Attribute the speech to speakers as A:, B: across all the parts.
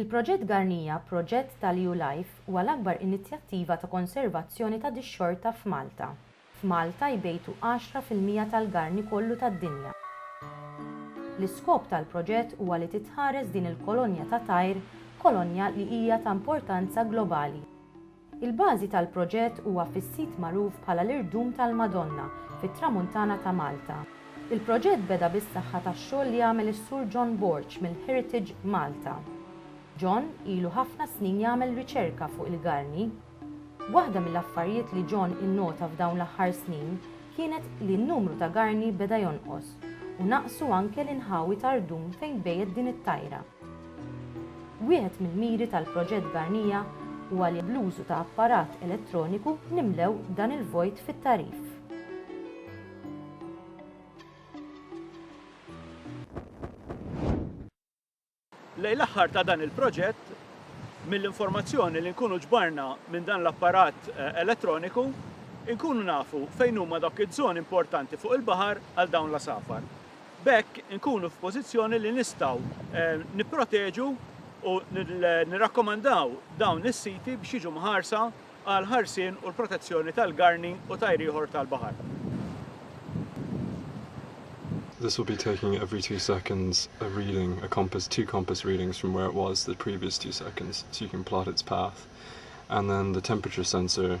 A: Il-Proġett Garnija, proġett tal-EU Life, huwa l-akbar inizjattiva ta' konservazzjoni ta' dix-xorta f'Malta. F'Malta jbejtu għaxra fil-mija tal-garni kollu tad-dinja. L-iskop tal-proġett huwa li titħares din il-kolonja ta' tajr, kolonja li hija ta' importanza globali. Il-bażi tal-proġett huwa fis-sit magħruf bħala l-Irdum tal-Madonna fit-Tramuntana ta' Malta. Il-proġett beda bis-saħħa tax-xogħol li għamel is-Sur John Borg mill-Heritage Malta. John ilu ħafna snin jagħmel riċerka fuq il-garni. Waħda mill-affarijiet li John innota f'dawn l-aħħar snin kienet li n-numru ta' garni beda jonqos u naqsu anke l-inħawi ta' rdum fejn tbejjet din it-tajra. Wieħed mill-miri tal-proġett Barnija huwa li bl-użu ta' apparat elettroniku nimlew dan il-vojt fit-tagħrif.
B: Lejn l-aħħar ta' dan il-proġett, mill-informazzjoni li nkunu ġbarna minn dan l-apparat eh, elettroniku, inkunu nafu fejn huma dawk iż-żoni importanti fuq il-baħar għal dawn l-asafar. B'hekk inkunu f'pożizzjoni li nistgħu nipproteġu u nirrakkomandaw dawn is-siti biex jiġu mħarsa għall-ħarsien u l-protezzjoni tal-garni u tajr ieħor tal-baħar.
C: This will be taking every two seconds a reading, a compass, two compass readings from where it was the previous two seconds so you can plot its path and then the temperature sensor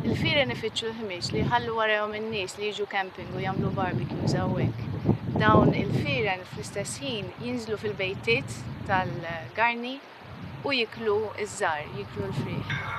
D: Il-fieren ifittxu l-ħmieġ li jħallu warajhom in-nies li jiġu camping u jagħmlu barbecues hawnhekk. Dawn il-fieren fl-istess ħin jinżlu fil-bejtiet tal-garni u jiklu iż-żar, jiklu l-friħ.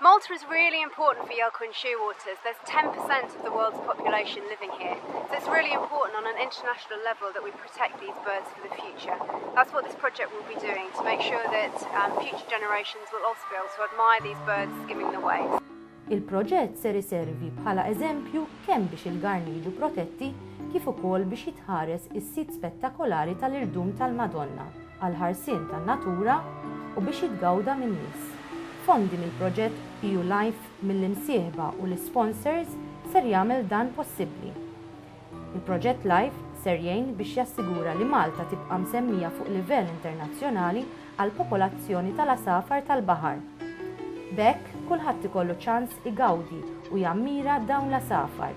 E: Malta is really important for Yalquin Shearwaters. There's 10% of the world's population living here. So it's really important on an international level that we protect these birds for the future. That's what this project will be doing to make sure that um, future generations will also be able to admire these birds skimming the waves. Il-proġett ser
A: iservi bħala eżempju kemm biex il-garni jiġu protetti kif ukoll biex jitħares is-sit spettakolari tal-irdum tal-Madonna. għall-ħarsien tan-natura u biex jitgawda min-nies. Fondi mill-proġett EU Life mill-imsieħba u l-isponsors ser jagħmel dan possibbli. Il-proġett Life ser jgħin biex jassigura li Malta tibqa' msemmija fuq livell internazzjonali għall-popolazzjoni tal-għasafar tal-baħar. B'hekk kulħadd ikollu ċans igawdi u jammira dawn l-għasafar